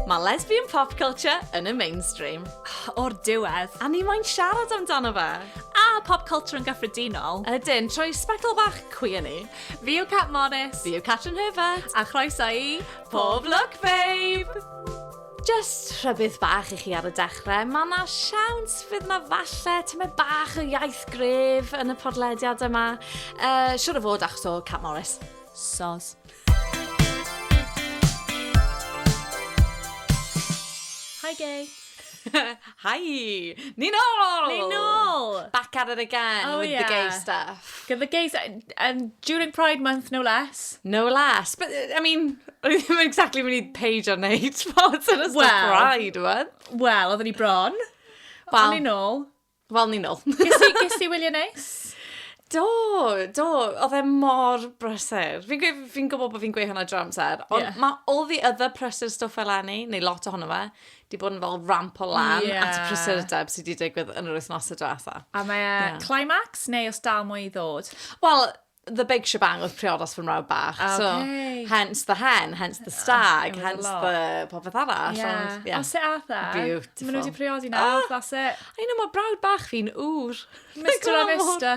Mae lesbian pop culture yn y mainstream. O'r diwedd, a ni moyn siarad amdano fe. A pop culture yn gyffredinol. Ydyn, trwy sbectol bach cwi yn ni. Fi yw Cat Morris. Fi yw Catrin Herbert. A chroeso i Pob Lwc Babe! Jyst rhybudd bach i chi ar y dechrau, mae yna siawns fydd yna falle tymed bach o iaith gref yn y podlediad yma. Uh, siwr o fod achos o Cat Morris. Sos. Hi Gay. Hi! Ni'n ôl! Ni'n ôl! Back at it again oh, with yeah. the gay stuff. Gyda the gay stuff. Um, during Pride Month, no less. No less. But, I mean, o'n i ddim yn exactly mynd i page o'n neud spots yn ystod well, Pride Month. Wel, oedden ni bron. Wel, o'n i'n ôl. Wel, ni'n ôl. Ges i wylio neis? Do, do. Oedd e mor brysur. Fi'n fi, fi gwybod bod fi'n gweud hwnna dro amser, ond yeah. mae all the other prysur stuff eleni, neu lot ohono fe, di bod yn fel ramp o lan yeah. at y prysurdeb sydd wedi digwydd yn yr wythnosau diwetha. A mae yeah. climax neu os dal mwy i ddod? Wel, the big shebang oedd priodas fy mrawd bach. Okay. So, hence the hen, hence the stag, oh, hence the popeth arall. Yeah. Ond, yeah. Os e atha. Beautiful. Mae nhw wedi priodi nawr, oh. that's it. I know, mae brawd bach fi'n ŵr. Mr. Avista.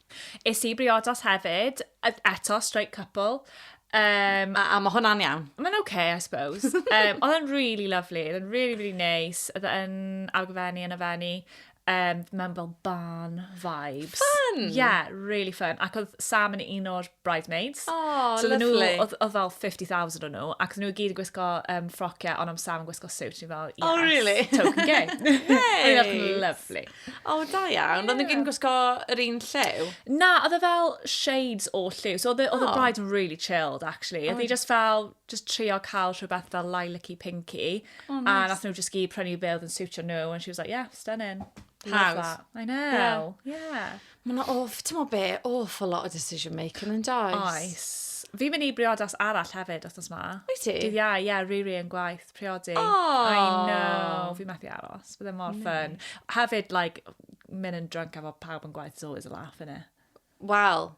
Es i briodas hefyd, eto, straight couple. Um, a, a mae hwnna'n iawn? Mae'n oce, okay, I suppose. um, oedd yn really lovely, oedd yn really, really nice. Oedd yn argyfennu, yn afennu. Um, mewn fel barn vibes. Fun! Yeah, really fun. Ac oedd Sam yn un o'r bridesmaids. Oh, so lovely. oedd, oedd fel 50,000 o'n nhw, ac oedd nhw i gyd yn gwisgo um, ffrociau, ond am Sam yn gwisgo suit, ni fel, oh, yes, oh, really? token gay. hey! Oedd lovely. O, da iawn. Yeah. Oedd yn gyn gwisgo yr un lliw? Na, oedd e fel shades o lliw. So oedd y oh. bride really chilled, actually. Oedd oh. just fel, just trio cael rhywbeth fel lilac-y, pinky. Oh, nice. A nath nhw just gyd prynu beth oedd yn siwtio nhw. And she was like, yeah, stunning. House. I know. Yeah. yeah. Mae yna awf, ti'n meddwl be, awful lot o decision making yn does? Oes. Fi'n mynd i briodas arall hefyd, os ma. Wyt ti? Dydd iau, ie, yeah, riri yn gwaith, priodi. Oh. I know, fi methu aros, bydde mor ffyn. Hefyd, like, mynd yn drunk efo pawb yn gwaith is always a laugh, innit? Wel,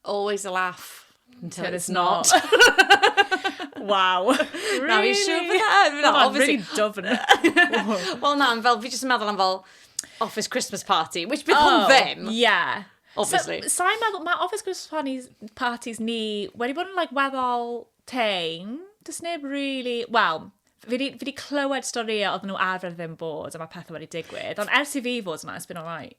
Always a laugh. Until, Until it's not. wow. Really? Na, fi siw bod e yn. Na, obviously. Really dofn. Wel na, fel, fi jyst yn meddwl am fel office Christmas party, which bydd oh, hwn ddim. Yeah. Obviously. So, sa'n meddwl, mae office Christmas parties, parties ni wedi bod yn like, weddol tein. Does neb really, well, fi wedi clywed storïau oedd nhw arfer ddim bod a mae pethau wedi digwydd. Ond ers i fi fod yma, it's been alright.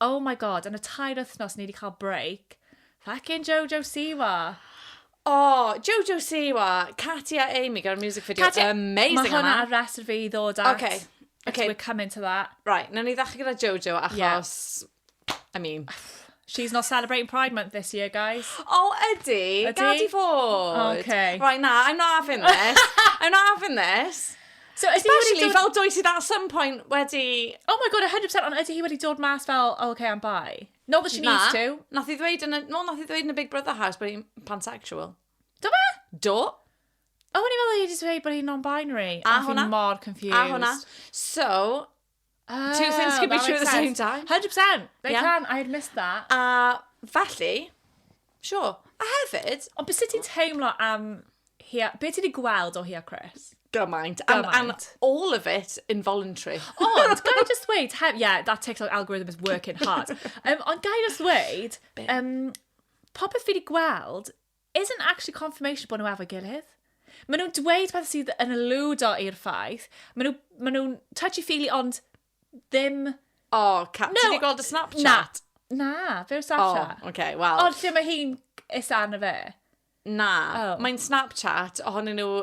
Oh my God, yn y tair wythnos ni 'di cael break, feckin Jojo Siwa! O, Jojo Siwa, Katy a Amy gyda'r music video Katy, amazing yma. Mae hwnna ar rest fi ddod at. Okay. Okay. We're coming to that. Right, na ni ddechrau gyda Jojo achos, yeah. I mean... She's not celebrating Pride Month this year, guys. Oh, ydy. Ydy. Gad i fod. Okay. Right, na, I'm not having this. I'm not having this. So, Especially dod... fel dwy sydd at some point wedi... Oh my god, 100%, ond ydy hi wedi dod mas fel, oh, okay, I'm bi. Not that she na, needs to. Nath i ddweud yn y, no, nath i ddweud yn y Big Brother house bod hi'n pansexual. Do fe? Do. Oh, o'n i fel i wedi dweud bod hi'n non-binary. A hwnna. mor confused. A hwnna. So, Oh, Two things can be true at the same time. 100%! They yeah. can, I had missed that. A felly, sure. A hefyd... Ond beth ti'n teimlo am... Hia... Be ti wedi gweld o hi a Chris? gymaint. And, and all of it involuntary. Ond, gai just wait, hef, yeah, that TikTok algorithm is working hard. Um, ond gai just wait, um, popeth fi wedi gweld, isn't actually confirmation bod nhw efo'i gilydd. Maen nhw'n dweud pethau sydd yn eludo i'r ffaith. Maen nhw, maen nhw'n touchy-feely ond ddim... O, oh, ca... No, ti wedi gweld y Snapchat? Na, na, fe yw'r Snapchat. O, oh, okay, wel. Ond lle mae hi'n is anna fe? Na, oh. mae'n Snapchat ohonyn nhw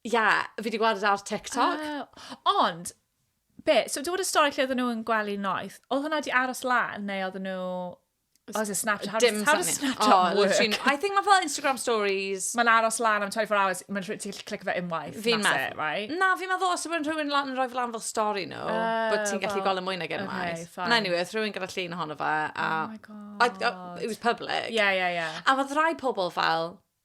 Ie, yeah, fi wedi gweld e ar TikTok. Uh, ond, be, so dywed y stori lle oedden nhw'n gwely noeth, oedd hwnna wedi aros lan, neu oedden nhw... Oh, is it Snapchat? How, Dim does, how does Snapchat oh, work? I think mae fel Instagram stories. Mae'n aros lan am 24 hours, mae'n rhaid ti'n clic fe unwaith. Fi'n meddwl. Right? Na, fi'n meddwl os yw'n rhywun lan yn rhoi lan fel stori nhw, no, uh, bod ti'n gallu well, gweld y mwy nag unwaith. Okay, And anyway, rhywun gyda llun ohono fe. A, oh my god. I, I, it was public. Yeah, yeah, yeah. A mae rai pobl fel,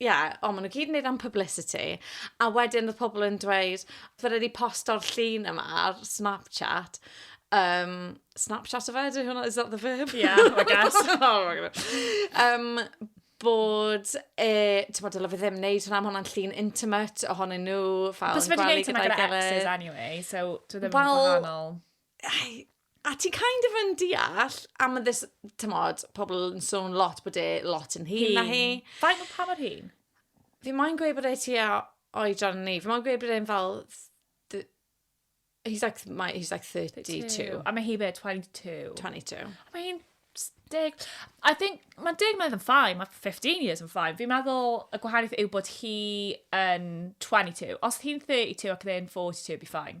ie, yeah, o, maen nhw gyd yn neud am publicity, a wedyn y pobl yn dweud, fe rydw i posto'r llun yma ar Snapchat, um, Snapchat o fe, dwi hwnna, is that the verb? Yeah, I guess. oh my god. Um, bod, e, ti'n bod, dylai fe ddim wneud hwnna, mae hwnna'n llun intimate ohonyn nhw, fel yn gweld gyda'i gilydd. Cos fe wedi gwneud hwnna gyda exes anyway, so dwi ddim yn gwahanol. a ti kind of yn deall, a mae this, tymod, pobl yn sôn lot bod e lot yn hyn na hi. Faint o pa mor hyn? Fi moyn gweud bod e ti a oedran ni. Fi moyn gweud bod e'n fel... He's like, my, he's like 32. 32. A mae hi be, 22? 22. A mae hi'n deg... I think, mae deg mlynedd yn ffain, mae 15 years yn ffain. Fi'n meddwl y gwahaniaeth yw bod hi yn 22. Os hi'n 32 ac e'n 42, be fine.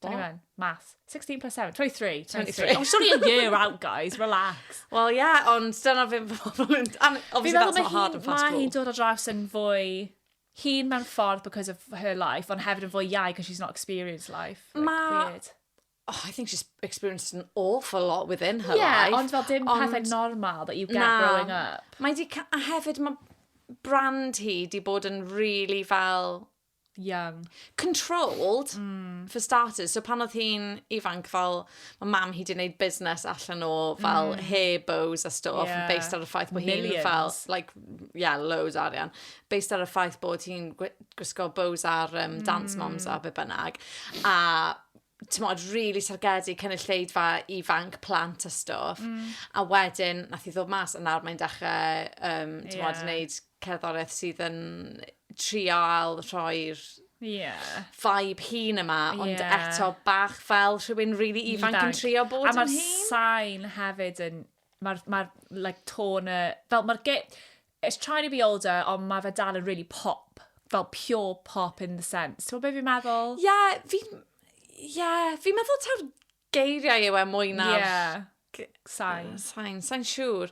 21. Math. 16 plus 7. 23. 23. Oh, it's only a year out, guys. Relax. Wel, ie, yeah, ond dyna fe pobl yn... Obviously, that's not hard and fast Mae hi'n dod o draws yn fwy hun mewn ffordd because of her life, ond hefyd yn fwy iau because she's not experienced life. Like, Mae... Oh, I think she's experienced an awful lot within her yeah, life. Yeah, ond fel dim ond... pethau normal that you get na, growing up. Mae di... A hefyd mae brand hi di bod yn really fel young. Controlled, mm. for starters. So pan oedd hi'n ifanc, fel, mae mam hi wedi gwneud busnes allan o, fel, mm. hair bows a stuff, yeah. based ar y ffaith bod hi'n, fel, like, yeah, loads arian. Based ar y ffaith bod hi'n gwisgo bows ar um, mm. Dance Moms a be bynnag. A t'mod, rili targedu cynulleidfa ifanc, plant a stwff. Mm. A wedyn, nath i ddod mas, a nawr mae'n dechrau, um, t'mod, yeah. wneud cerddoriaeth sydd yn trial rhoi'r yeah. vibe hun yma, ond yeah. eto bach fel rhywun rili really ifanc, ifanc yn trio bod yn hun. A mae'r sain hefyd yn, mae'r, ma like, tone, fel mae'r It's trying to be older ond ma fe dal yn rili pop, fel pure pop in the sense. T'mod be fi'n meddwl? Ie, fi'n, ie, fi'n meddwl taw'r geiriau yw e mwy na'r... Ie, sain. Sain, sai'n siŵr.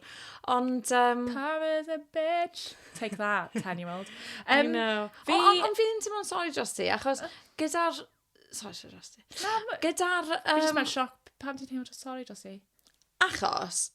Ond yym... Pam is a bitch? Take that, ten year old. I know. Fi... Ond on, fi'n teimlo'n sori dros ti, achos gyda'r... Sori, sori dros ti. Na, ma'... Gyda'r yym... Fi jyst mewn sioc, pam ti'n teimlo sori dros i? Achos,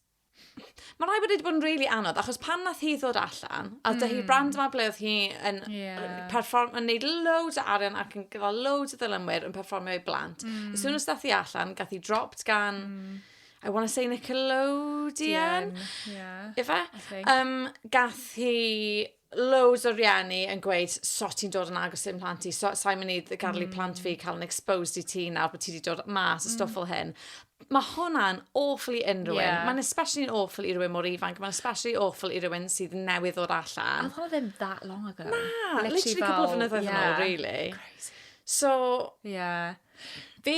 Mae rhaid bod wedi bod yn really anodd, achos pan nath hi ddod allan, a dy hi'r brand yma ble oedd hi yn, yeah. perform, yn neud loads o arian ac yn gyda loads o ddylymwyr yn performio i blant. Mm. As soon as dath hi allan, gath hi dropped gan, mm. I want to say Nickelodeon. Yeah, yeah. Ife? Um, gath hi loads o rieni yn gweud, so ti'n dod yn agos i'n plant i, so, sa'n mynd i garlu mm. plant fi cael yn exposed i ti nawr bod ti wedi dod mas mm. stwff fel hyn. Mae hwnna'n awful i unrhyw yeah. un. Mae'n especially yn awful i rhywun mor ifanc. Mae'n especially awful i rhywun sydd newydd o'r allan. Oedd hwnna ddim that long ago. Na, literally, literally couple of flynyddoedd yeah. yn ôl, really. Crazy. So, yeah. Fi,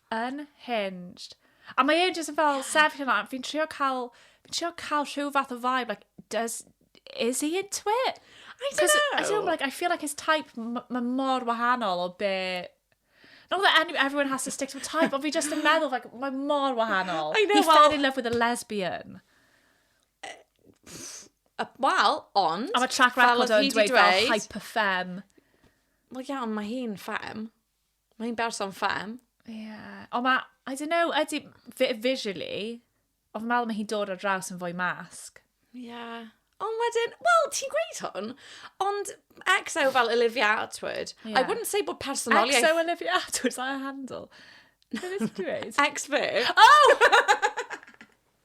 Unhinged. A mae e jyst yn fel sefyll yna, fi'n trio cael, fi'n trio cael rhyw fath o vibe, like, does, is he into it? I don't know. I don't know, like, I feel like his type, mae mor wahanol o be Not that any, everyone has to stick to a type, ond fi just yn meddwl, like, mae mor wahanol. I know, well... He fell in love with a lesbian. Wel, ond... A mae track record o'n dweud fel hyper-fem. Wel, iawn, mae hi'n fem. Mae hi'n berson ffem. Yeah. Ond mae, I don't know, ydy, visually, ond meddwl mae hi'n dod ar draws yn fwy masg. Ie. Yeah. Ond wedyn, wel, ti'n gweud hwn, ond XO fel Olivia Atwood, yeah. I wouldn't say bod personoliaeth... XO Olivia Atwood, is that her handle? Beth ti'n dweud? X-Verb. Oh!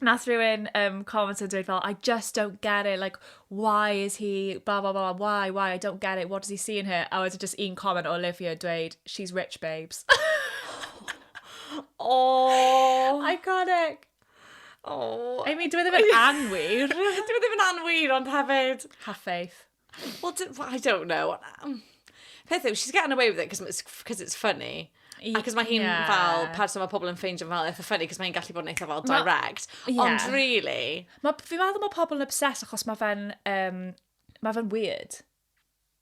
Nath rhywun um, comment yn dweud fel, I just don't get it, like, why is he, blah, blah, blah, why, why, I don't get it, what does he see in her? A wedyn just un comment o Olivia dweud, she's rich, babes. oh. Iconic. Oh. I mean, dwi e ddim yn anwyr. dwi e ddim yn anwyr, ond hefyd... Have faith. Well, d- well, I don't know. Um, Peth yw, she's getting away with it because it's, 'cause it's funny. I- Ac os mae hi'n yeah. fel person mae pobl yn ffeindio fel eitha ffynnu, cos mae hi'n gallu bod yn eitha fel Ma- direct. Ie. Ond really, Ma, fi'n meddwl mae pobl yn obsessed achos mae fe'n, um, mae fe'n weird.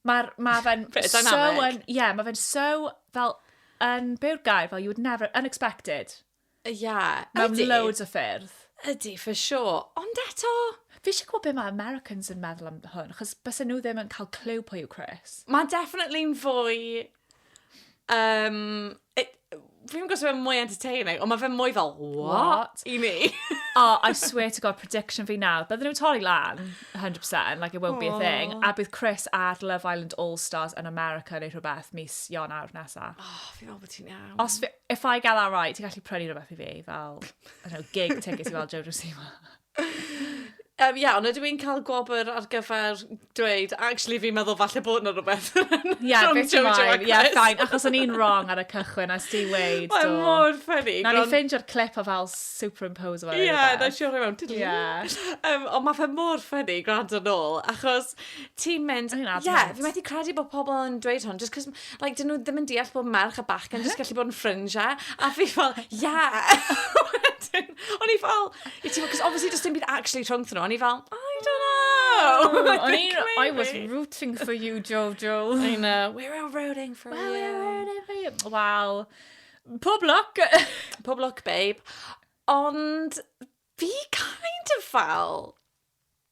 Mae'r, mae fe'n Bit so dynamic. yn, yeah, mae fe'n so, fel, yn byw'r gair, fel you would never, unexpected. Ie, ydy. Mewn loads o ffyrdd. Ydy, for sure. Ond eto... Fi eisiau gwybod beth mae Americans yn meddwl am hwn, chos bys nhw ddim yn cael clyw pwy yw Chris. Mae definitely'n fwy... Um, it, fi'n gwybod sef mwy entertaining, ond mae fe mwy fel, what? what? I mi. oh, I swear to God, prediction fi nawr. Bydden nhw'n torri lan, 100%, like it won't oh. be a thing. A bydd Chris ar Love Island All-Stars yn America neu rhywbeth mis Ionawr nesaf. Oh, fi'n meddwl bod ti'n iawn. Os fi, If I get that right, ti'n gallu prynu rhywbeth i fi, fel, I don't know, gig tickets i weld Joe Drusima. Um, yeah, ond ydw i'n cael gwobr ar gyfer dweud, actually fi'n meddwl falle bod yna rhywbeth. yeah, From bit Jojo mine. Yeah, fine, achos o'n i'n wrong ar y cychwyn, as di weid. Mae'n mor ffynnu. Na ni ffeindio'r clip o fel superimpose fel Ie, yeah, na siwr rhywun. Yeah. Um, ond mae fe mor ffynnu, gwrando nôl, achos ti'n mynd... Ie, yeah, fi methu credu bod pobl yn dweud hwn, just cos Like, dyn nhw ddim yn deall bod merch a bachgen yn just gallu bod yn ffrindiau. A fi fel, yeah! o'n i fel, i ti, cos obviously just dim byd actually rhwng nhw. O'n i fel, I don't know. Oh, o'n i, I was rooting for you, Jojo. I know, we're all rooting for well, you. We're all rooting for you. Wow. Pob luck. Pob luck, babe. Ond fi kind of fel,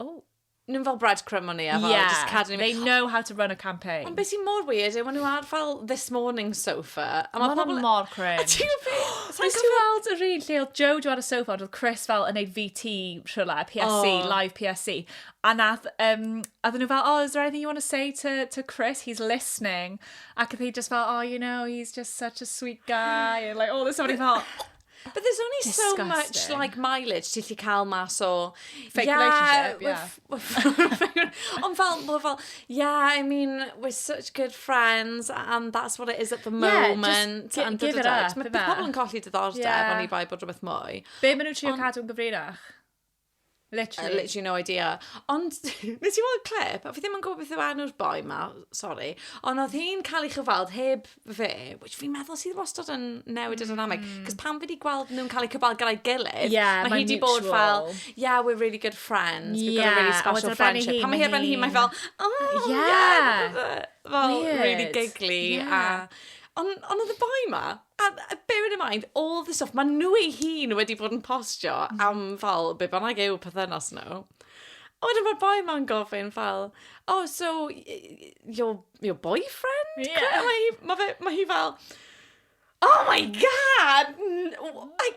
Oh. Nhw'n fel breadcrumb o'n i a fel yeah, just cadw they know how to run a campaign. Ond beth sy'n mor weird yw maen nhw ar fel this morning sofa. A mae pobl... Mae'n mor cringe. A ti'n gwybod beth? Sa'n cael weld yr un lle oedd Joe ar y sofa ond oedd Chris fel yn ei VT rhywle, PSC, oh. live PSC. A nath, um, a nhw fel, oh, is there anything you want to say to, to Chris? He's listening. Ac oedd hi just fel, oh, you know, he's just such a sweet guy. And like, all this stuff. fel, But there's only Disgusting. so much like mileage ti lli cael mas o... Fake yeah, relationship, yeah. We're, ond fel, we're fel, yeah, I mean, we're such good friends and that's what it is at the moment. Yeah, just and give it up. Mae pobl yn colli diddordeb yeah. ond i bai bod rhywbeth mwy. Be maen nhw'n trio cadw'n gyfrinach? Literally. Uh, literally no idea. Ond, nes i weld clip, a fi ddim yn gwybod beth yw enw'r boi ma, sorry, ond oedd hi'n cael ei chyfald heb fe, which fi'n meddwl sydd wastad yn newid y dynamic, mm. cos pan fi wedi gweld nhw'n cael eu cyfald gyda'i gilydd, yeah, mae hi wedi bod fel, yeah, we're really good friends, we've yeah, got a really special friendship. Pan mae hi erbyn hi, mae fel, oh, yeah, yeah. fel, really giggly, yeah. a... Ond on oedd y boi ma, A bearing in mind, all the stuff, maen nhw ei hun wedi bod yn postio mm. am fel, be bynnag yw pythynas nhw. A wedyn mae'r boi ma'n gofyn fel, oh, so, your, your boyfriend? Yeah. Mae hi, ma fe, ma hi fel, oh my god! I,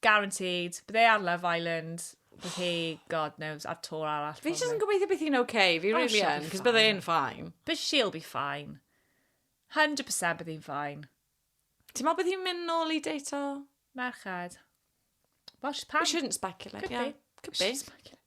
Guaranteed. Bydd e ar Love Island. Bydd hi, god knows, ar tor arall. Fi jyst yn gobeithio beth hi'n oce. Fi oh, really yn, cos bydd e'n ffain. But she'll be fine. 100% bydd hi'n ffain. Ti'n meddwl bydd hi'n mynd nôl i deito? Merched. Well, she's pan. We shouldn't speculate, Could yeah. Be. Could be.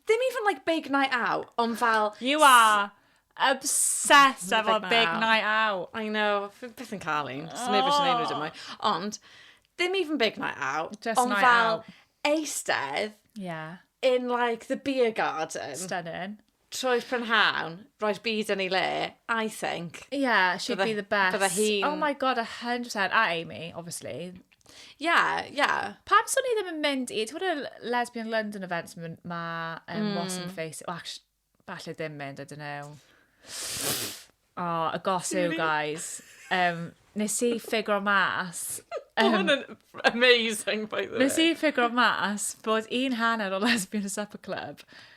Ddim even like big night out, ond fel... You are obsessed efo big night out. I know, fi byth yn cael un, so neb eisiau neud nhw dim mwy. Ond, ddim even big night out, ond fel eistedd in like the beer garden... Stunning. ...trwy'r prynhawn, roi'r byd yn ei le, I think... Yeah, she'd be the best. ...Bydde hi'n... Oh my God, a hundred percent. A Amy, obviously. Ie, ie. Pam swn i ddim yn mynd i... Ti'n gwybod y Lesbian London events ma- ma um, mm. Wasm Face... Well, actu- falle ddim mynd, I don't know. O, y gos yw, guys. Um, nes i ffigro mas... Um, Mae hwn amazing, by the way. Nes i ffigro mas bod un hanner o Lesbian Supper Club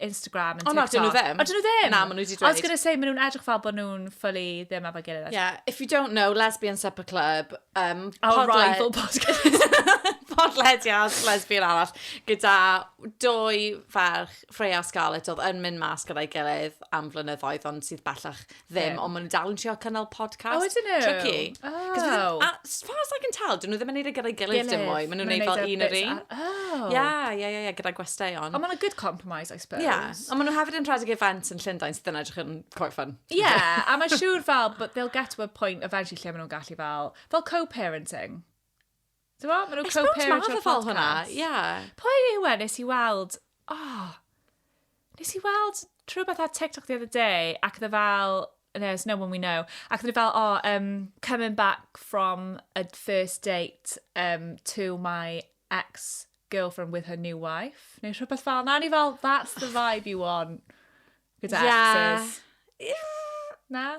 Instagram and TikTok. O na, dyn nhw ddim. O, dyn nhw ddim? Na, maen nhw wedi dweud. I was going to say, maen nhw'n edrych fel bod nhw'n ffylu ddim efo'n gilydd. Yeah, if you don't know, Lesbian Supper Club, um, Our podle... rival podcast. podlediad lesbian arall, gyda dwy ferch, Freya a Scarlett, oedd yn mynd mas gyda'i gilydd am flynyddoedd, ond sydd bellach ddim, ond maen nhw dal yn trio cynnal podcast. O, ydyn nhw? Tricky. Oh. As far as I can tell, dyn nhw ddim yn neud e gyda'i gilydd dim mwy. Maen nhw'n neud fel un yr un. Oh. Ia, ia, ia, ia, gyda gwesteion. Ond maen nhw'n good compromise, I suppose. Ia, ond maen nhw hefyd yn rhedeg events yn Llundain sydd yn edrych yn quite fun. Ia, yeah, a mae'n siŵr fel, but they'll get to a point eventually lle maen nhw'n gallu fel, fel co-parenting. Ti'n gwybod, maen nhw'n co-parent o'r podcast. Ie. Yeah. Pwy yw e nes i weld... Oh, nes i weld rhywbeth ar TikTok the other day, ac dda fel... No, it's no one we know. Ac dda fel, oh, um, coming back from a first date um, to my ex girlfriend with her new wife, neu rhywbeth fel na, ni fel, that's the vibe you want gyda yeah. exes. Na?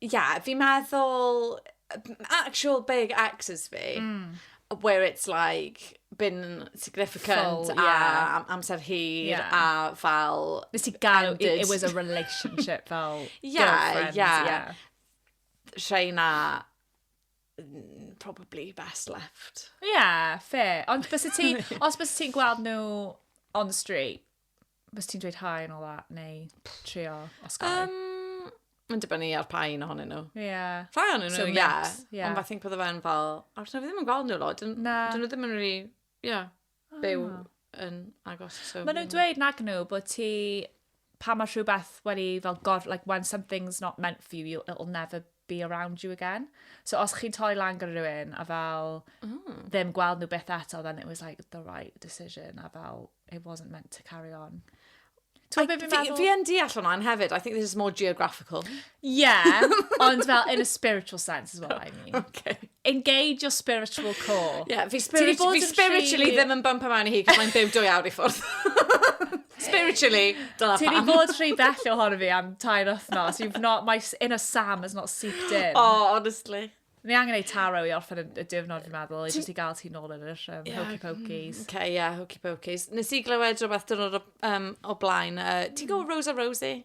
yeah, fi'n meddwl, actual big exes fi, mm. where it's like, been significant Full, yeah. a amser hir yeah. a fel... Nes i gael, it, it was a relationship fel yeah, yeah. yeah. Rhai na mm, probably best left. Yeah, fair. Ond bys ti'n, os bys ti'n gweld nhw on the street, Bys ti'n dweud hi and all that, neu trio osgoi? Um, Mae'n dibynnu ar pa un ohonyn nhw. Ie. Yeah. Rhai o'n nhw, so, ie. Yeah. Yeah. Ond fathi'n pwyddo fe'n fel, a rydyn nhw ddim yn gweld nhw lot. Na. Dyn nhw ddim yn rhi, ie, yeah, ah. byw oh. yn agos. So, Mae nhw'n dweud nag nhw bod ti, pa mae rhywbeth wedi fel gor, like when something's not meant for you, it'll never be around you again. So os chi'n torri lan gyda rhywun a fel mm. ddim gweld nhw beth eto, then it was like the right decision a fel it wasn't meant to carry on. Fi yn deall hwnna yn hefyd. I think this is more geographical. Yeah, ond fel in a spiritual sense is what I mean. Okay. Engage your spiritual core. Ie, yeah, fi, spirit, fi bod yn spiritually rhy- ddim yn bump around i hi, cos mae'n byw dwy awr i ffwrdd. spiritually, dyna Ti di pam. bod rhy bell ohono fi am tair wythnos. You've not, my s- inner Sam has not seeped in. Oh, honestly. Ni angen ei taro i orffen y- y diwrnod, fi'n meddwl, i jyst i gael ti nôl yn yr um, Ie. hokey pokeys. OK, yeah, hokey pokeys. Nes i glywed rhywbeth dyrnod o, um, o blaen. Uh, ti'n gwybod Rosa Rosie?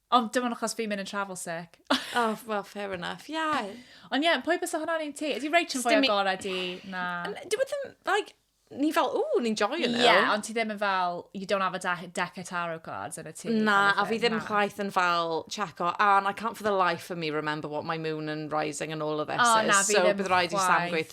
Ond dim ond achos fi'n mynd yn travel sick. oh, well, fair enough, yeah. Ond ie, yeah, pwy bys o hwnna'n un ti? Ydy Rachel yn fwy agorau di na... Dwi bod ddim, like, ni fel, ooh, ni'n joio nhw. Ie, yeah, ond ti ddim yn fel, you don't have a deck of tarot cards yn y ti. Na, a fi ddim chwaith yn fel checo, and I can't for the life of me remember what my moon and rising and all of this oh, is. Na, so bydd rhaid i Sam gweithio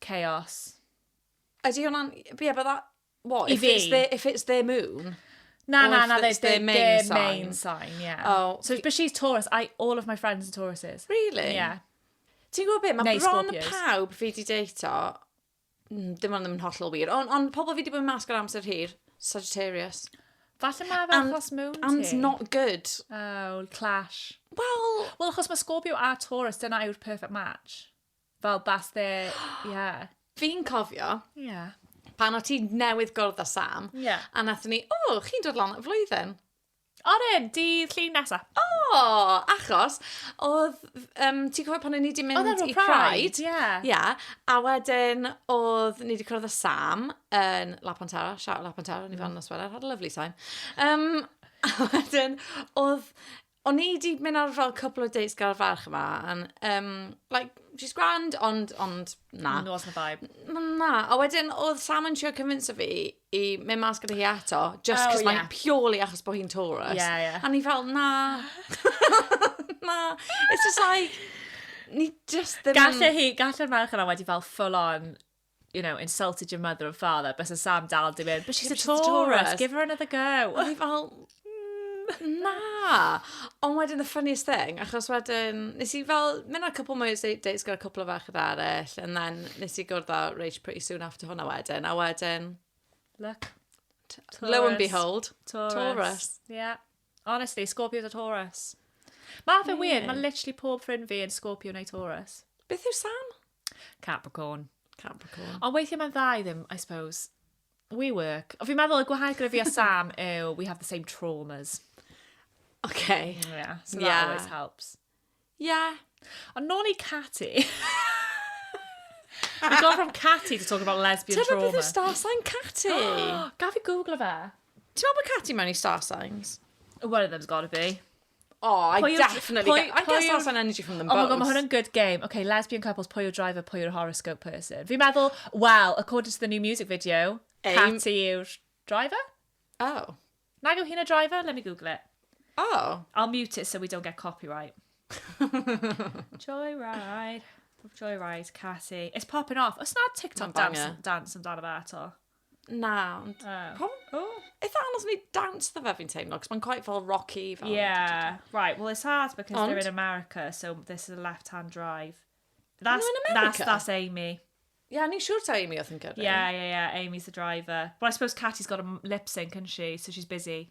chaos. Ydy hwnna'n... Ie, but that... What? I fi. If it's their moon? Na, na, na, it's their main sign. main sign, ie. Oh. So, but she's Taurus. I, all of my friends are Tauruses. Really? Ie. Ti'n gwybod beth? Mae bron pawb fi di deito, mm, dim ond ddim yn hollol wir, ond on, pobl fi di bod yn masg ar amser hir, Sagittarius. Falle mae fe achos moon And ti. not good. Oh, clash. Wel... Wel, achos mae Scorpio a Taurus, dyna yw'r perfect match. Fel bas dde, ie. Fi'n cofio... Ie. ...pan o' ti newydd gwrdd â Sam... Ie. ...a nathon ni, o, chi'n dod lan at flwyddyn. Odyn, dydd Llun nesa. O! Achos, odd, yym, ti'n cofio pan o' ni 'di mynd i Pride? Odd e ar ôl Pride, ie. Ie, a wedyn odd ni 'di cwrdd â Sam yn La Pontara, shout out La Pontara, o'n i fel 'na Nosweler, had a lovely time. Yym, a wedyn odd O'n i 'di mynd ar fel cwpl o dates gael farch yma, and, um, like, she's grand, ond, ond, na. Nos na vibe. Na, a wedyn oedd Sam yn trio convince fi i mynd mas gyda hi eto, just oh, cos yeah. mae'n purely achos bod hi'n Taurus. Yeah, yeah. A ni fel, na. na. It's just like, ni just ddim... Galle hi, galle'r merch yna wedi fel full on you know, insulted your mother and father, bys y Sam dal di mynd, but she's, a, Taurus, Taurus, give her another go. O'n i fel, mm, na. Ond wedyn, the funniest thing, achos wedyn, nes i fel, mynd ar couple more dates gyda couple o fach yda arall, and then nes i gwrdd â Rach pretty soon after hwnna wedyn, a wedyn... Look. Taurus. Lo and behold, Taurus. Taurus. Yeah. Honestly, Scorpio a Taurus. Mae fe yeah. weird, mae literally pob ffrind fi yn Scorpio neu Taurus. Beth yw Sam? Capricorn. Capricorn. Ond weithiau mae'n dda i ddim, I suppose. We work. O, fi'n meddwl y gwahanol gyda fi a Sam yw we have the same traumas. Okay. Yeah, so yeah. that always helps. Yeah. Ond nôl i Catty. We've gone from Catty to talk about lesbian Tyna trauma. Tyna beth yw star sign Catty? Gaf i googlo fe. Ti'n meddwl bod Catty mewn i star signs? One of them's gotta be. Oh, I pwy definitely pwy, get, I get that sort energy from them both. Oh my god, mae hwn yn good game. Okay, lesbian couples, pwy yw'r driver, pwy yw'r horoscope person. Fi'n meddwl, well, according to the new music video, Aim. Katy yw'r driver? Oh. Nag yw hi'n y driver? Let me google it. Oh. I'll mute it so we don't get copyright. Joyride. Joyride, Katy. It's popping off. Os na TikTok dance, dance amdano fe ato. Na, ond... Uh, probably... Oh. Eitha anodd ni dawns dda fe fi'n teimlo, cos mae'n quite fel rocky. Fel yeah, right. Well, it's hard because ond... they're in America, so this is a left-hand drive. That's, in America? That's, that's Amy. Yeah, ni'n siŵr ta Amy oedd yn gyrru. Yeah, yeah, yeah, Amy's the driver. Well, I suppose Katie's got a lip sync, isn't she? So she's busy.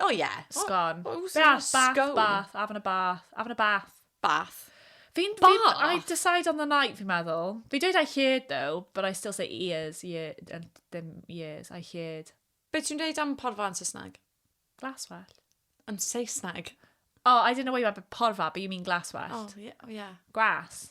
Oh yeah. Sgorn. Oh, oh, bath, oh, bath, scone. bath, having a bath, having a bath. Bath. Fi'n... Bath? I decide on the night, fi'n meddwl. Fi dweud I heard though, but I still say ears, year, and dim years, I heard. Be ti'n dweud am porfa yn Saesneg? Glaswell. Yn Saesneg? Oh, I don't know why you have a porfa, but you mean glaswell. Oh, yeah. Oh, yeah. Gwas.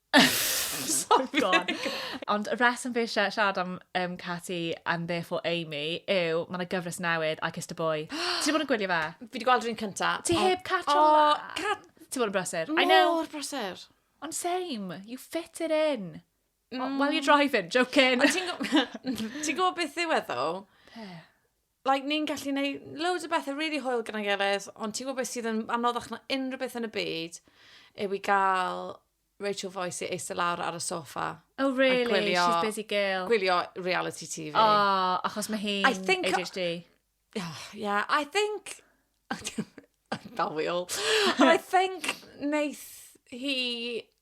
Ond y reswm fi eisiau siarad am um, Catty and therefore Amy yw, mae yna gyfres newydd, I Kissed a Boy. Ti wedi bod yn gwylio fe? Fi wedi gweld rhywun cynta. Ti heb catch o la? Cat... Ti bod yn brysur? I know. Mor brysur. Ond same, you fit it in. Mm. While you're driving, joking. Ti'n gwybod beth yw e ddo? Pe? like, ni'n gallu gwneud loads o bethau really hwyl gyda'n gilydd, ond ti'n gwybod beth sydd yn anoddach na unrhyw beth yn y byd, yw i gael Rachel Voice i eistedd lawr ar y sofa. Oh, really? Gwylio, She's busy girl. Gwylio reality TV. Oh, achos mae hi'n ADHD. Oh, yeah, I think... Dal fi ôl. Ond I think wneith hi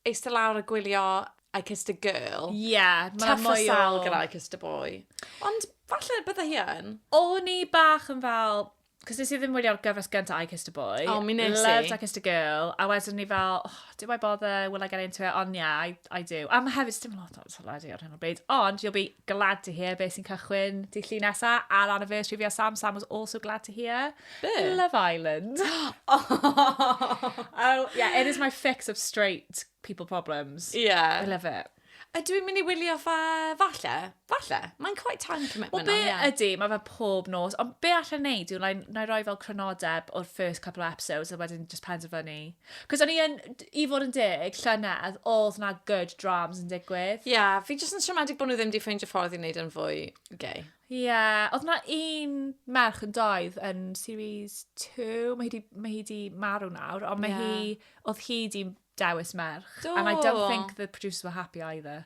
eistedd lawr a gwylio I Kissed a Girl. Ie, mae 'na mwy o... Tough as hell gyda I Kissed a Boy. Ond falle bydde hi yn. O'n i bach yn fel... 'Cos nes i ddim wylio'r gyfres gynta I Kissed a Boy... O, mi wnes i. ...Loved I Kissed a Girl, a wedyn o'n i fel, oh, do I bother, will I get into it? Ond ie, I I do. A ma' hefyd, 'sdim lot o teledu ar hyn o bryd, ond you'll be glad to hear beth sy'n cychwyn dy llun nesa ar anniversary fi a Sam. Sam was also glad to hear. Be? Love Island. oh. oh, yeah, it is my fix of straight people problems. Yeah. I love it. A dwi'n mynd i wylio fa, falle, falle. Mae'n quite time commitment. Wel, be on, yeah. ydy, mae fe pob nos, ond be allan neud yw, na i roi fel crynodeb o'r first couple of episodes, a wedyn just penderfynu Cos o'n i yn, i fod yn deg, llynedd, oedd na good drams yn digwydd. Ie, yeah, fi jyst yn siomedig bod nhw ddim wedi ffeindio ffordd i wneud yn fwy gay. Ie, yeah, oedd na un merch yn doedd yn series 2, mae hi di, mae hi di marw nawr, ond mae yeah. hi, oedd hi di dewis merch. Do. And I don't think the producers were happy either.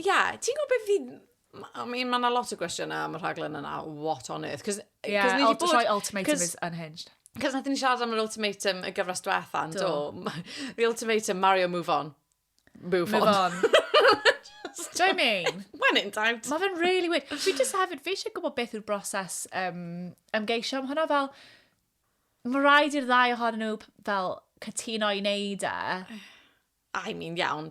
Ie, yeah, ti'n gwybod beth fi... I mean, mae yna lot o gwestiynau am y rhaglen yna, what on earth? Cos, Ie, yeah, ni bod... rhoi ultimatum is unhinged. Cos nath ni siarad am yr ultimatum y gyfres diwetha, do. do. The ultimatum, Mario, move on. Move, move on. on. Do you mean? When in doubt. Mae fe'n really weird. Fi just hefyd, fi eisiau gwybod beth yw'r broses um, ymgeisio am hwnna fel... Mae rhaid i'r ddau ohonyn nhw fel cytuno i wneud e. I mean, iawn.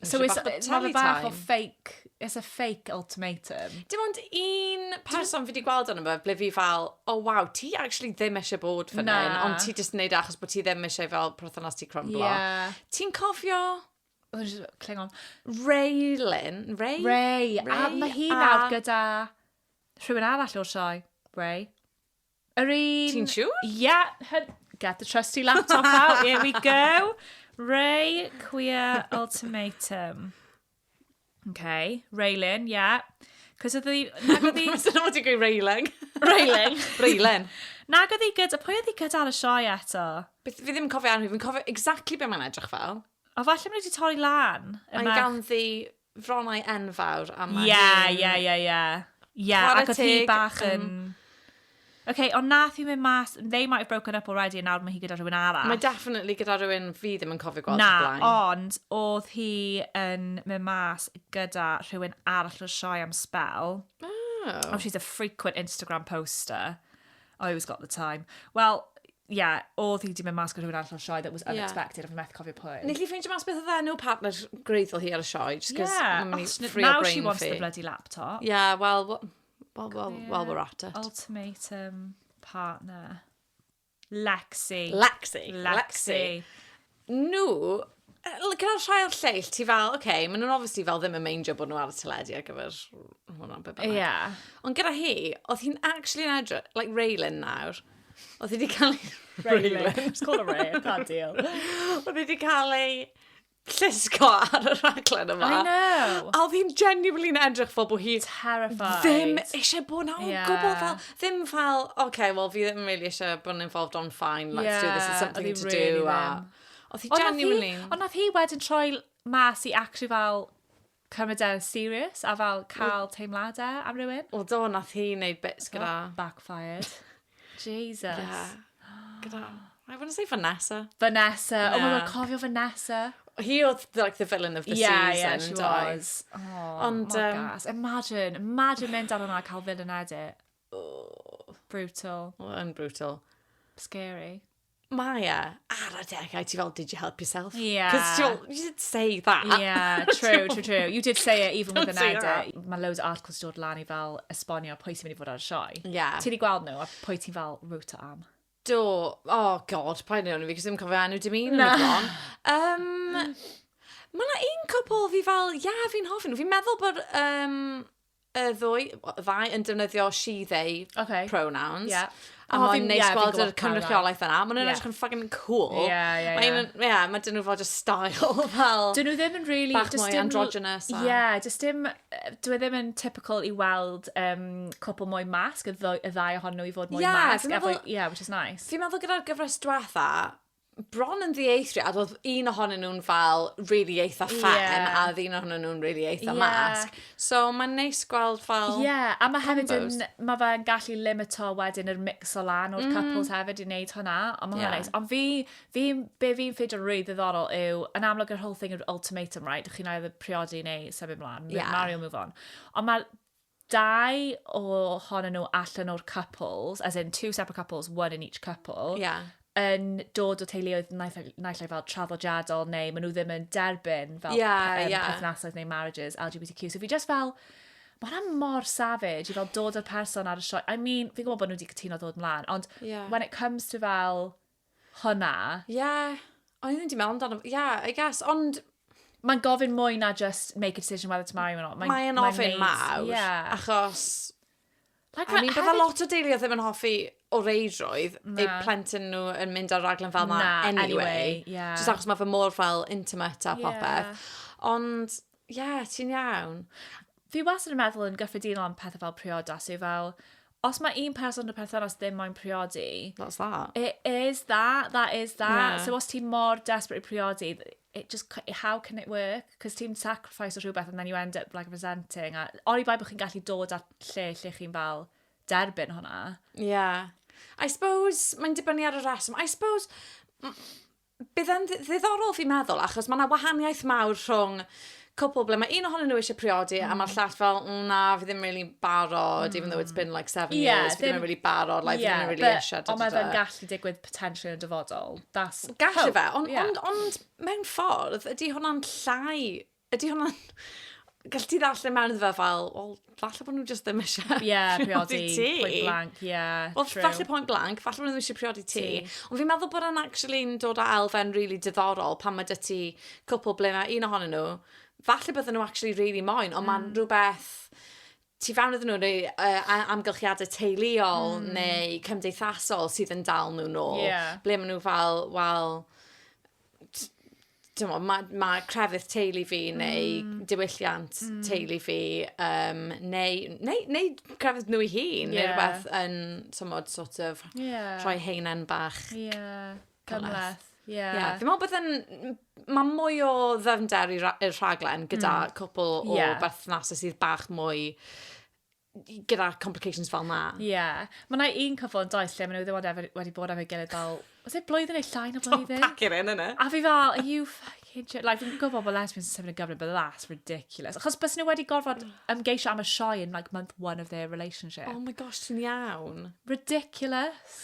So it's, ma fe bach o fake, it's a fake ultimatum. Dim ond un person fi wedi gweld ond fe, ble fi fel, oh wow, ti actually ddim eisiau bod fan hyn, ond ti jyst yn neud e achos bod ti ddim eisiau fel perthynas ti crumblo. Yeah. Ti'n cofio... Oedd yn just clingon. Raylin. Ray? Ray. Ray. A mae hi nawr gyda rhywun arall o'r sioe. Ray. Yr un... Ti'n siŵr? Yeah, her... get the trusty laptop out, here we go. Ray Queer Ultimatum. Okay, Raylan, yeah. Cos oedd hi... Nag oedd hi... Dyna fod i'n gweud Raylan. Raylan. Raylan. Nag oedd hi gyda... Pwy oedd hi gyda ar y sioe eto? Beth fi ddim yn cofio arni, fi'n cofio exactly be mae'n edrych fel. O, falle mae nhw wedi torri lan. Y Mae'n merch- ganddi fronnau enfawr a mae Ie, hi'n... ie, ie, ie. Ie, Chwarae ac oedd hi teg, bach yn... yym. OK, ond nath hi mynd mas, they might have broken up already a nawr mae hi gyda rhywun arall. Mae definitely gyda rhywun fi ddim yn cofio gweld Na, o'r blaen. ond oedd hi yn mynd mas gyda rhywun arall o'r sioe am sbel. Oh. Oh, she's a frequent Instagram poster. I always got the time. Wel, ie, oedd hi wedi mynd mas gyda rhywun arall o'r sioe that was Ie. unexpected, a fi methu cofio pwy. Nes i ffeindio mas beth oedd enw partner gwreiddiol hi ar y sioe, just 'cause Yeah, mae'n mynd os- i ffrio now she brain wants fi. the bloody laptop. Ie, wel, w- wel, wel, Ie. well, we're at it. Ultimatum partner. Lexi. Lexi. Lexi. nhw, gyda rhai o'r lleill, ti fel, oce, okay, maen nhw'n obviously fel ddim yn meindio bod nhw ar y teledu ar gyfer hwnna, be bynnag. Yeah. Ond gyda hi, oedd hi'n actually yn edrych, like Raylan nawr, oedd hi wedi cael ei... Raylan, it's called a Ray, I can't deal. oedd hi wedi cael ei llusgo ar y rhaglen yma. I know. A oedd hi'n genuinely yn edrych fel bod hi... Terrified. Ddim eisiau bod na o'n yeah. gwbl fel... ddim fel, oce, wel fi ddim really eisiau bod yn involved on fine, let's do this, it's something to do. Oedd hi genuinely... Ond nath hi wedyn troi mas i actually fel cymryd e'n serious a fel cael teimladau am rywun. O do, nath hi wneud bits gyda... Backfired. Jesus. Yeah. Gyda... I wanna say Vanessa. Vanessa. Yeah. Oh my god, cofio Vanessa. Hi oedd like the villain of the yeah, season. Yeah, she doi. was. Oh, Ond, mor um, gas. Imagine, imagine mynd ar hwnna a cael villain edit. Oh. Brutal. Well, yn brutal. Scary. Mae e ar y degau, ti fel, did you help yourself? Yeah. Because you did say that. Yeah, true, true, true. You did say it even with an edit. Mae loads o articles dod lan i fel esbonio pwy sy'n mynd i fod ar y sioe. Yeah. Ti wedi gweld nhw a pwy ti'n fel rwt am? Do, oh god, paid neud hwn i fi, cos ddim cofio enw dim un yn y bron. Um, Mae yna un cwpl fi fel, ia, yeah, fi'n hoffi nhw. Fi'n meddwl bod um, y ddwy, ddau yn defnyddio she, they okay. pronouns. Yeah. A oh, mae'n neis yeah, gweld yr cynrychiolaeth yna. Mae'n yeah. edrych yn fucking cool. Yeah, yeah, yeah. Mae'n, yeah, mae dyn nhw fod just style fel... Dyn nhw ddim yn really... Bach mwy androgynous. Ie, yeah, just dim dyw e ddim yn typical i weld um, cwpl mwy masg, y, y ddau ohonyn nhw i fod mwy yeah, masg. Meddwl, yeah, which is nice. Fi'n meddwl gyda'r gyfres dwetha, bron yn ddieithriad, oedd un ohonyn nhw'n fel really eitha ffen, yeah. a oedd un ohonyn nhw'n really eitha yeah. masg. So mae'n neis gweld fel Ie, yeah, a mae hefyd yn, mae fe'n gallu limito wedyn yr mix o lan o'r mm. couples hefyd i wneud hwnna, ond mae'n yeah. neis. Ond fi, Fi, be fi'n ffeindio rili ddiddorol yw, yn amlwg yr whole thing yw'r ultimatum, right? Dych chi'n either priodi neu symud mlaen, yeah. marry or move on. Ond mae'r dau o hon nhw allan o'r couples, as in two separate couples, one in each couple, yeah. yn dod o teuluoedd naill ai fel traddodiadol neu maen nhw ddim yn derbyn fel yeah, um, yeah. perthnasoedd neu marriages LGBTQ. So fi just fel, mae hwnna mor savage i fel dod o'r person ar y sioe. I mean, fi'n gwybod bod nhw wedi cytuno dod mlaen, ond yeah. when it comes to fel hwnna. Ie, yeah. o'n i ddim wedi meddwl amdano, ie, yeah, I guess, ond... Mae'n gofyn mwy na just make a decision whether to marry or not. Mae'n mae ofyn mawr, yeah. achos... Like, I mean, bydda lot o deulu ddim yn hoffi o reidrwydd eu plentyn nhw yn mynd ar raglen fel yma anyway. anyway yeah. Just achos mae fe mor fel intimate a popeth. Yeah. Ond, Ie, ti'n iawn. Fi wastad yn meddwl yn gyffredinol am pethau fel priodas yw fel, os mae un person yn y perthynas ddim moyn priodi... That's that. It is that, that is that. Yeah. So os ti mor desperate i priodi, it just, how can it work? Cos ti'n sacrifice o rhywbeth and then you end up like resenting. A oni bai bod chi'n gallu dod at lle lle chi'n fel derbyn hwnna. Yeah. I suppose, mae'n dibynnu ar y reswm. I suppose, Bydd e'n ddiddorol fi'n meddwl, achos mae yna wahaniaeth mawr rhwng cwpl ble mae un ohonyn nhw eisiau priodi mm. a mae'r mm. llall fel, mm, na, fi ddim really barod, mm. even though it's been like seven yeah, years, fi ddim yn really barod, like, yeah, fi ddim yn really eisiau. Ond mae fe'n gallu digwydd potentially yn dyfodol. That's gallu fe, ond yeah. on, on, mewn ffordd, ydy hwnna'n llai Ydy hwnna'n... Gallet ti ddarllen mewn iddo fe fel, wel, falle bod nhw jyst ddim eisiau yeah, priodi ti. Point blank, yeah, well, true. Falle point blank, falle bod nhw ddim eisiau priodi ti. Ond fi'n meddwl bod yna'n actually yn dod â elfen really diddorol pan mae dy ti cwpl ble mae un ohonyn nhw, falle bydden nhw actually really moyn, ond mm. mae'n rhywbeth tu fewn iddyn nhw, neu uh, amgylchiadau teuluol mm. neu cymdeithasol sydd yn dal nhw nôl. Yeah. Ble maen nhw fel, wel, dyma, mae ma crefydd teulu fi mm. neu mm. diwylliant mm. teulu fi um, neu, neu, neu crefydd nhw i hun yeah. neu rhywbeth yn tymod sort of yeah. rhoi heinen bach yeah. Cymhleth. Ie. Yeah. Yeah. Fi'n meddwl bod yn... Mae mwy o ddyfnder i'r rhaglen gyda mm. cwpl o yeah. berthnasau sydd bach mwy gyda complications fel na. Ie. Yeah. Mae yna un cyfo yn does lle maen nhw ddim wedi, wedi bod efo'i gilydd fel... Os ei blwyddyn neu llai na blwyddyn? Don't pack it in, yna. A fi fel, are you fucking joking? Like, fi'n gwybod bod lesbians yn symud yn gyfrif, but that's ridiculous. Achos bys nhw wedi gorfod ymgeisio am y sioe in like month one of their relationship. Oh my gosh, ti'n iawn. Ridiculous.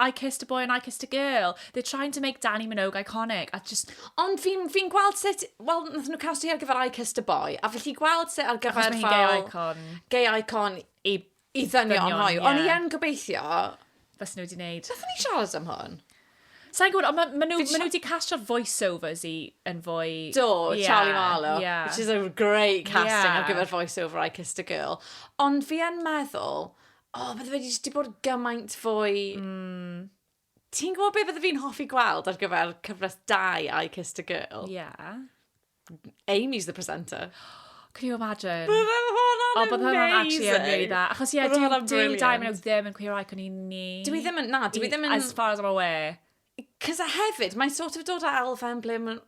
I kissed a boy and I kissed a girl. They're trying to make Danny Minogue iconic. A just... Ond fi'n fi gweld sut... Wel, nath nhw castio ar gyfer I Kissed a Boy. A felly gweld sut ar gyfer... Achos mae hi'n gay icon. Gay icon i, i ddynion hoiw. Yeah. Ond i yn gobeithio... Fes nhw wedi gwneud. Fes nhw wedi siarad am hwn. Sa'n gwybod, ond maen nhw, ma wedi castio'r voiceovers i yn fwy... Do, yeah, Charlie Marlowe, yeah. which is a great casting yeah. ar gyfer voiceover I Kissed a Girl. Ond fi yn meddwl, O, bydde fe jyst 'di bod gymaint fwy... Mm. Ti'n gwybod beth bydde fi'n hoffi gweld ar gyfer cyfres 2 I Kissed a Girl? Ie. Yeah. Amy's the presenter. Can you imagine? Bydde hwnna'n amazing! O, bydde hwnna'n actually yn really dda. Achos ie, dyw Diamond ddim yn cwiro like o'n i'n ni. Dwi ddim yn, na, dwi ddim yn... As far as I'm aware. Cos a hefyd, mae'n sort of dod â elfen ble mae'n...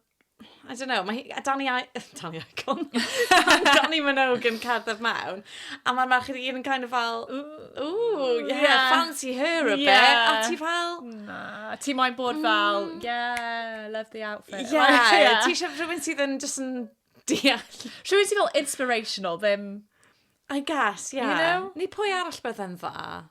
I don't know, mae Danny, I Danny Icon. Danny Minogue yn cerdded mewn. A mae'r merched i gyd yn kind of fel, ooh, yeah, yeah, fancy her a yeah. bit. A ti fel... Na, ti moyn bod mm. fel, yeah, love the outfit. Yeah, like, yeah. ti eisiau rhywun sydd yn just yn deall. Rhywun sydd fel inspirational, ddim... I guess, yeah. You know? Ni pwy arall bydde'n dda?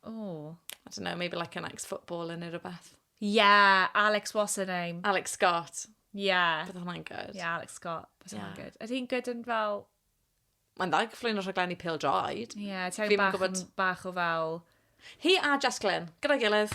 Oh. I don't know, maybe like an ex-footballer neu rhywbeth. Yeah, Alex, what's her name? Alex Scott. Yeah. Bydd hwnna'n good. Yeah, Alex Scott. Bydd hwnna'n good. Ydy hi'n good yn fel... Mae'n dda gyflwyno rhaglenni pil droed. Ie, yeah, ti'n bach, bach o fel... Hi a Jess Glynn, gyda'i gilydd.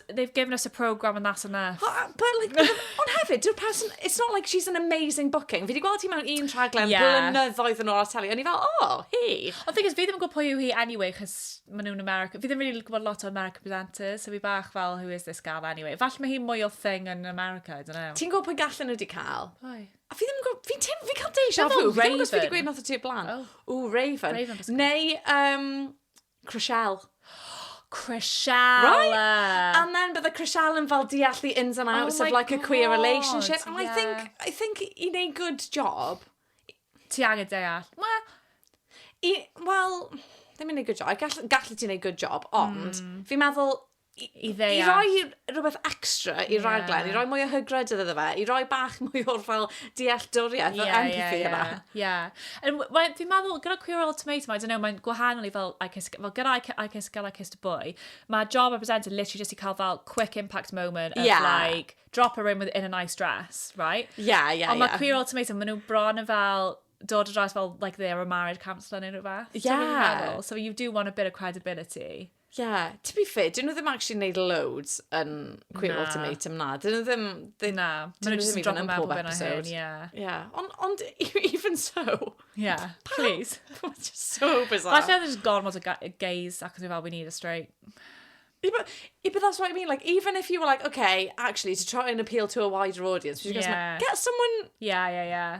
they've given us a programme and that's enough. But like, ond hefyd, dyw'r person, it's not like she's an amazing booking. Fi wedi gweld ti mewn un rhaglen yeah. blynyddoedd yn ôl ar teli, o'n i fel, oh, hi. Ond thing is, fi ddim yn gwybod pwy yw hi anyway, chys maen nhw'n America. Fi ddim really gwybod lot o American presenters, so fi bach fel, who is this gal anyway. Fall mae hi mwy o thing yn America, I don't know. Ti'n gwybod pwy gallen nhw wedi cael? Pwy? A fi ddim yn gwybod, fi ti'n, fi cael deja vu. Fi ddim yn gwybod beth wedi gweud nath o ti blaen. Oh. Ooh, Raven. Raven Neu, um, Crisial. Crisial! Right? And then bydde Crisial yn fel deall the ins and oh outs oh of like God. a queer relationship. And yeah. I think, I think i neud good job. Ti angen deall. Wel, i, well, ddim yn neud good job. Gall, gallu ti neud good job, ond mm. fi'n meddwl i, i ddeall. I roi rhywbeth extra i yeah. raglen, i roi mwy o hygryd iddo fe, i roi bach mwy o'r fel dealltwriaeth yeah, o'r empathy yeah, yna. Ie. Yeah. Fi'n meddwl, gyda Queer Old Tomato, I don't know, mae'n gwahanol i fel, I kiss, fel gyda I, I Kiss Girl, I Kissed a Boy, mae job a presenter literally just i cael fel quick impact moment of yeah. like, drop her in with in a nice dress, right? Ie, yeah, ie, yeah, Ond mae yeah. Queer Old Tomato, maen nhw bron yn fel, dod o dras fel, like, they are a married counsellor neu rhywbeth. Yeah. So, so you do want a bit of credibility. Yeah, to be fair, dyn nhw ddim actually yn neud loads yn Queer Na. Ultimatum na. Dyn nhw ddim... They, Na, dyn maen nhw nhw jyst yn ddim even dropo yn mewn pob bob hyn a hyn, episode. ie. Yeah, ond, ond even so, Ie, please. it's just so bizarre. Falle oedd e just gormod o ga- gays ac oedd e fel, we need a straight. Yeah, but, yeah, but that's what I mean. Like, even if you were like, okay, actually, to try and appeal to a wider audience, because Yeah. get someone Yeah, yeah, yeah.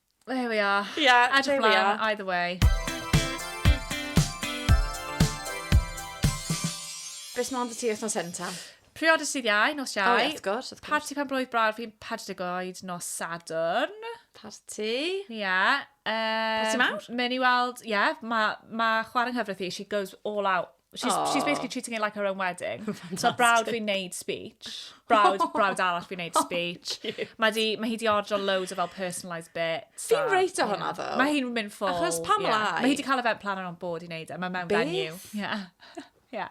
There we are. Yeah, there we are. Edrych mlaen, either way. Be sy'n ond y ti wythnos hyn ta? Priodas sydd iau, nos iau. O, ie, wrth gwrs, wrth gwrs. Parti pan blwydd brawd fi'n 40 oed nos Sadwrn. Parti. Ie. Yeah, um, Parti mawr? Mae'n i weld, ie, yeah, mae ma chwarae nghyfraith i, she goes all out. She's, oh. she's basically treating it like her own wedding. so brawd fi'n neud speech. Brawd, brawd arall fi'n neud oh, speech. Oh, mae, di, mae hi di ordro loads o fel personalised bits. Fi'n reit o hwnna ddo. Mae hi'n mynd ffôl. Achos pam yeah. lai? Mae hi di cael event planner on board i neud e. Mae mewn venue. Yeah. yeah.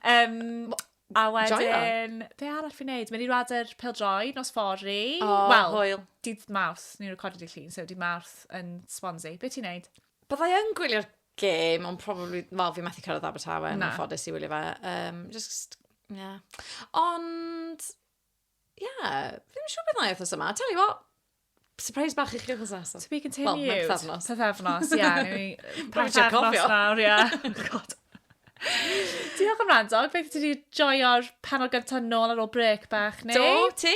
Um, A wedyn, be arall fi'n neud? Mynd i radar pildroi nos fori. O, oh, well, hwyl. Dydd Mawrth, ni'n recordio di llun, so dydd Mawrth yn Swansea. Be ti'n neud? Byddai yn gwylio'r gêm, ond probably, wel, fi methu cyrraedd Abertawe, yn ffodus i wylio fe. Um, just, yeah. Ond, yeah, fi'n siŵr beth na wythnos yma. Tell you what, surprise bach i chi oedd nesaf. To be continued. Wel, mae'n pethefnos. Pethefnos, ie. Pethefnos nawr, ie. God. Diolch am rando. Beth ti wedi joio'r panel gyntaf nôl ar ôl break bach, neu? Do, ti?